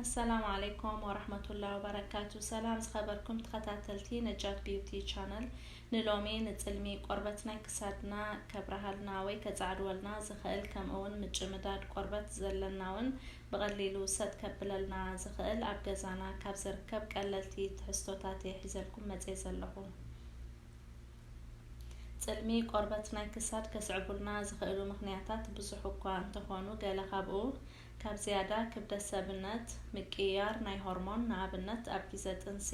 ኣሰላሙ ዓለይኩም ወራህመቱላሂ ወበረካቱ ሰላም ዝኸበርኩም ተኸታተልቲ ነጃት ቢዩቲ ቻነል ንሎሚ ንፅልሚ ቆርበት ናይ ክሳድና ከብረሃልና ወይ ከፃዕድወልና ዝኽእል ከምኡውን ምጭምዳድ ቆርበት ዘለና እውን ብቐሊሉ ሰጥ ከብለልና ዝኽእል ኣብ ገዛና ካብ ዝርከብ ቀለልቲ ትሕዝቶታት እየ ሒዘልኩም መፅየ ዘለኹ ጽልሚ ቆርበት ናይ ክሳድ ከስዕቡልና ዝኽእሉ ምኽንያታት ብዙሕ እኳ እንተኾኑ ገለ ካብኡ ካብ ዝያዳ ክብደት ሰብነት፣ ምቅይያር ናይ ሆርሞን ንኣብነት ኣብ ጊዘ ጥንሲ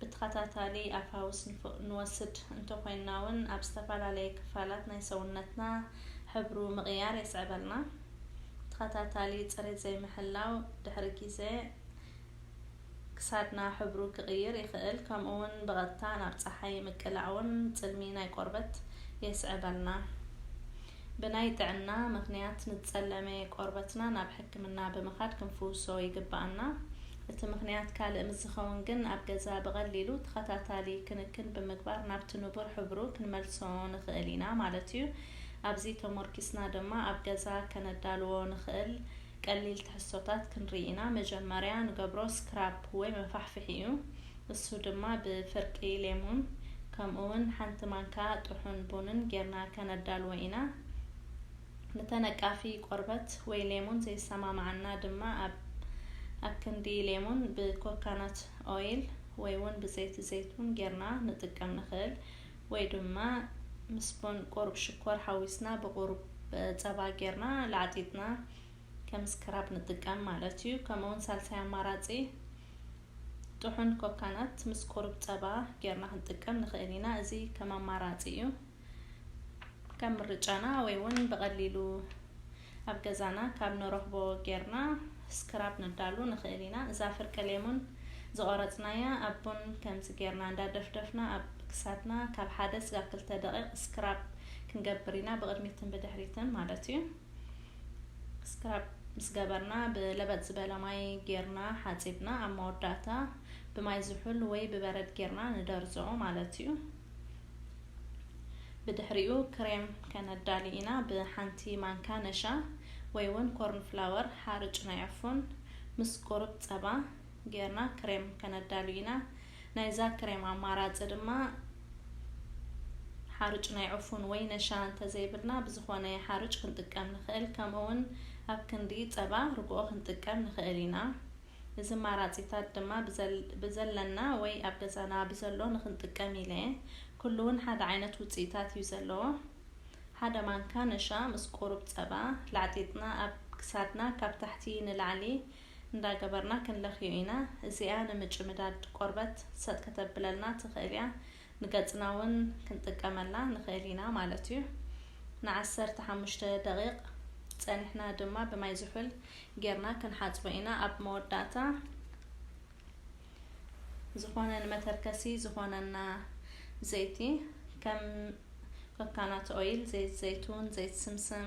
ብተኸታታሊ ኣብ ፋውስ ንወስድ እንተኾይንናውን ኣብ ዝተፈላለየ ክፋላት ናይ ሰውነትና ሕብሩ ምቕያር የስዕበልና። ተኸታታሊ ጽሬት ዘይምሕላው ድሕሪ ጊዘ ክሳድና ሕብሩ ክቕይር ይኽእል፣ ከምኡ'ውን ብቐጥታ ናብ ጸሓይ ምቅላዕ'ውን ጽልሚ ናይ ቆርበት የስዕበልና። ብናይ ጥዕና ምኽንያት ንዝጸለመ ቆርበትና ናብ ሕክምና ብምኻድ ክንፍውሶ ይግበኣና። እቲ ምኽንያት ካልእ ምስ ዝኸውን ግን ኣብ ገዛ ብቐሊሉ ተኸታታሊ ክንክን ብምግባር ናብቲ ንቡር ሕብሩ ክንመልሶ ንኽእል ኢና ማለት'ዩ። ኣብዚ ተሞርኪስና ድማ ኣብ ገዛ ከነዳልዎ ንኽእል ቀሊል ትሕዝቶታት ክንርኢ ኢና። መጀመርያ ንገብሮ ስክራፕ ወይ መፋሕፍሒ እዩ። እሱ ድማ ብፍርቂ ሌሙን ከምኡውን ሓንቲ ማንካ ጥሑን ቡንን ጌርና ከነዳልዎ ኢና። ንተነቃፊ ቆርበት ወይ ሌሙን ዘይሰማማዓና ድማ ኣብ ኣክንዲ ሌሙን ብኮካናት ኦይል ወይውን ብዘይቲ ዘይቱን ጌርና ንጥቀም ንክእል። ወይ ድማ ምስ ቡን ቁሩብ ሽኮር ሓዊስና ብቁሩብ ጸባ ጌርና ላዕጢጥና ከም ስክራብ ንጥቀም ማለት እዩ። ከምኡውን ሳልሳይ ኣማራጺ ጥሑን ኮካናት ምስ ቁሩብ ጸባ ጌርና ክንጥቀም ንኽእል ኢና። እዚ ከም ኣማራጺ እዩ። ከም ምርጫና ወይ እውን ብቐሊሉ ኣብ ገዛና ካብ ንረኽቦ ጌርና ስክራብ ነዳሉ ንኽእል ኢና። እዛ ፍርቂ ሌሙን ዝቖረጽናያ ኣብ ቡን ከምዚ ጌርና እንዳደፍደፍና ኣብ ክሳድና ካብ ሓደ ስጋብ ክልተ ደቒቕ ስክራብ ክንገብር ኢና ብቕድሚትን ብድሕሪትን ማለት እዩ። ስክራብ ምስ ገበርና ብለበጥ ዝበለ ማይ ጌርና ሓጺብና ኣብ መወዳእታ ብማይ ዝሑል ወይ ብበረድ ጌርና ንደርዞ ማለት እዩ። ብድሕሪኡ ክሬም ከነዳሊ ኢና ብሓንቲ ማንካ ነሻ ወይ ውን ኮርን ፍላወር ሓርጭ ናይ ዕፉን ምስ ቁሩብ ጸባ ጌርና ክሬም ከነዳሉ ኢና ናይዛ ክሬም ኣማራጺ ድማ ሓርጭ ናይ ዕፉን ወይ ነሻ እንተዘይብልና ብዝኾነ ሓርጭ ክንጥቀም ንኽእል ከምኡ ውን ኣብ ክንዲ ጸባ ርግኦ ክንጥቀም ንኽእል ኢና እዚ ማራጺታት ድማ ብዘለና ወይ ኣብ ገዛና ብዘሎ ንክንጥቀም ኢለየ። ኩሉ ውን ሓደ ዓይነት ውጽኢታት እዩ ዘለዎ። ሓደ ማንካ ነሻ ምስ ቁሩብ ጸባ ላዕጢጥና ኣብ ክሳድና ካብ ታሕቲ ንላዕሊ እንዳገበርና ክንለኽዮ ኢና። እዚኣ ንምጭምዳድ ቆርበት ሰጥ ከተብለልና ትኽእል እያ። ንገጽና ውን ክንጥቀመላ ንኽእል ኢና ማለት እዩ። ን ዓሰርተ ሓሙሽተ ደቂቅ ጸኒሕና ድማ ብማይ ዝሑል ጌርና ክንሓጽቦ ኢና ኣብ መወዳእታ ዝኾነ ንመተርከሲ ዝኾነና ዘይቲ ከም ኮካናት ኦይል ዘይት ዘይቱን ዘይት ስምስም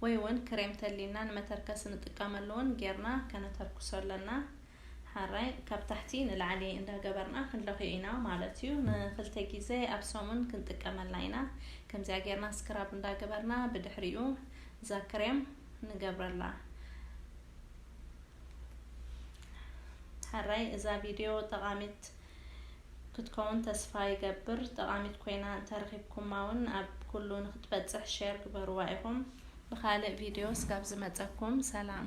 ወይ ውን ክሬም ተሊና ንመተርከሲ ንጥቀመሉ ውን ጌርና ከነተርኩሶ ኣለና። ሐራይ ካብ ታሕቲ ንላዕሊ እንዳገበርና ክንለኽዮ ኢና ማለት እዩ ንክልተ ግዜ ኣብ ሰሙን ክንጥቀመላ ኢና ከምዚኣ ጌርና ስክራብ እንዳገበርና ብድሕሪኡ እዛ ክሬም ንገብረላ ሐራይ እዛ ቪድዮ ጠቃሚት ክትከውን ተስፋ ይገብር ጠቃሚት ኮይና እንተረኺብኩማ እውን ኣብ ኩሉ ንክትበፅሕ ሼር ግበርዋ ኢኹም ብካልእ ቪድዮ ስጋብ ዝመፀኩም ሰላም